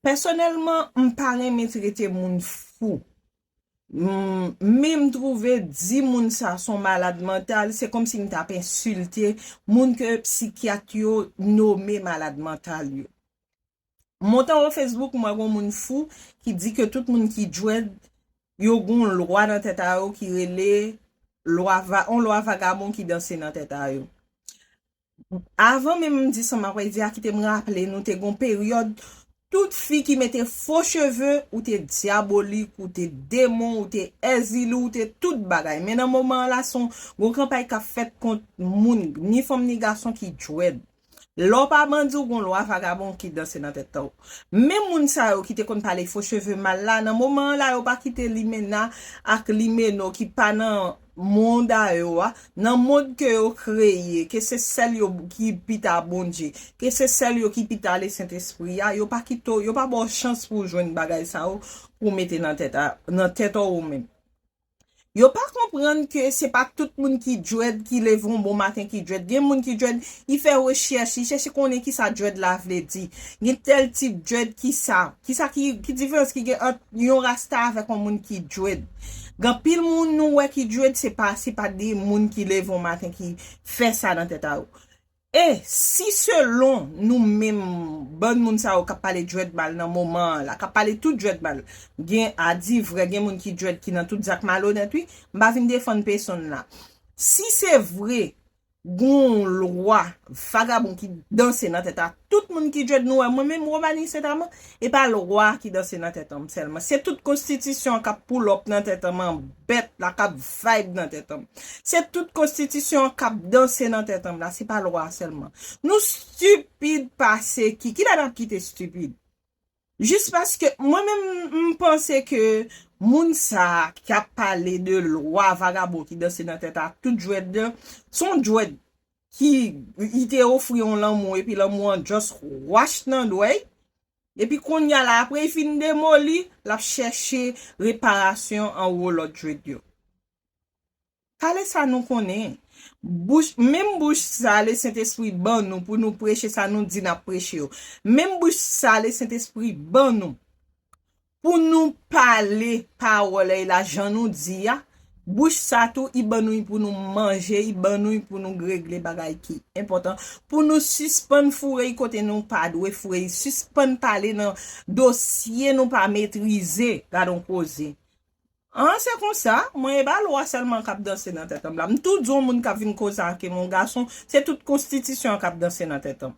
Pèsonèlman m pa renmen trete moun fou men m twouve di moun sa s on malad mantal se kòmsi m t ap ensilte moun ke psikyat yo nome malad mantal yo. M monte w Facebook m wè gon moun fou ki di ke tout moun ki djwed yo gon w lwa nan tèt a yo ki rele lwa va on lwa vagabon ki danse nan tèt a yo. Avan menm m di sa m apral di a kite m raple nou te gon peryòd tout fi ki mete fo cheve ou te dyabolik ou te demon ou te èzili ou te tout bagay men nan moman an la son gon kanpay k ap fèt kont moun ni fanm ni gason ki djwed lè w pa bandi w gon lwa vagabon ki danse nan tèt ou menm moun sa yo ki te konn pale fo cheve mal la nan moman an la yo pa kite limena ak limeno ki pa nan mond a yo a, nan mond ke yo kreye, ke se sèl yo ki pita Bondye, ke se sèl yo ki pita ale Sentespri a, yo pa kite w, yo pa ba w chans pou w jwenn bagay sa yo pou w mete nan tèt a, nan tèt ou ou menm. Yo pa konprann ke se pa tout moun ki dread ki leve yon bon maten ki dread. Gen moun ki dread, li fè rechèch, li chèche konnen kisa dread la vle di. Gen tèl tip dread, kisa, kisa ki, ki diferans ki gen ant Yon rasta avèk yon moun ki dread. Gen anpil moun nou wè ki dread se pa se pa de moun ki leve yon maten ki fè sa nan tèt a yo. E si selon nou menm bann moun sa yo kap pale dread mal nan moman an la, kap pale tout dread mal. Gen a di vrè gen moun ki dread ki nan tout zak malonèt wi. M pa vin defann pesonn la. Si se vre Gonw lwa vagabon ki danse nan tèt a tout moun ki djed nou wè mwen menm Romanie Saint Amand e pa lwa ki danse nan tèt anm sèlman se tout konstitisyon an kap pull up nan tèt anm an bèt la kap vibe nan tèt anm se tout konstitisyon an kap danse nan tèt anm la se pa lwa a sèlman nou stupid pase ki kilè nap kite stupid. Jis paske mwen menm m panse ke moun sa ki ap pale de lwa vagabon ki danse nan tèt a tout djwed de se yon djwed ki li te ofri yon lanmou epi lanmou an just wach nan dwèy epi konnya la apre li fin demoli lap chèche reparasyon anwo lòt djwed yo. Pale sa nou konnen. Bouch, menm bouch sa le Sentespri ban nou pou nou preche sa nou di nap preche yo. Menm bouch sa le Sentespri ban nou pou nou pale pawòl èy la jan nou di a, bouch sa tou i ban nou i pou nou manje, i ban nou i pou nou gregle bagay ki enpòtan, pou nou sispann foure i kote nou pa dwe foure i, sispann pale nan dosye nou pa metrize. Gad on koze. An se konsa, mwen e pa lwa sèlman kap danse nan tèt anm la. M tou di on moun kap vin kozake m, on gason, se tout konstitisyon an kap danse nan tèt anm.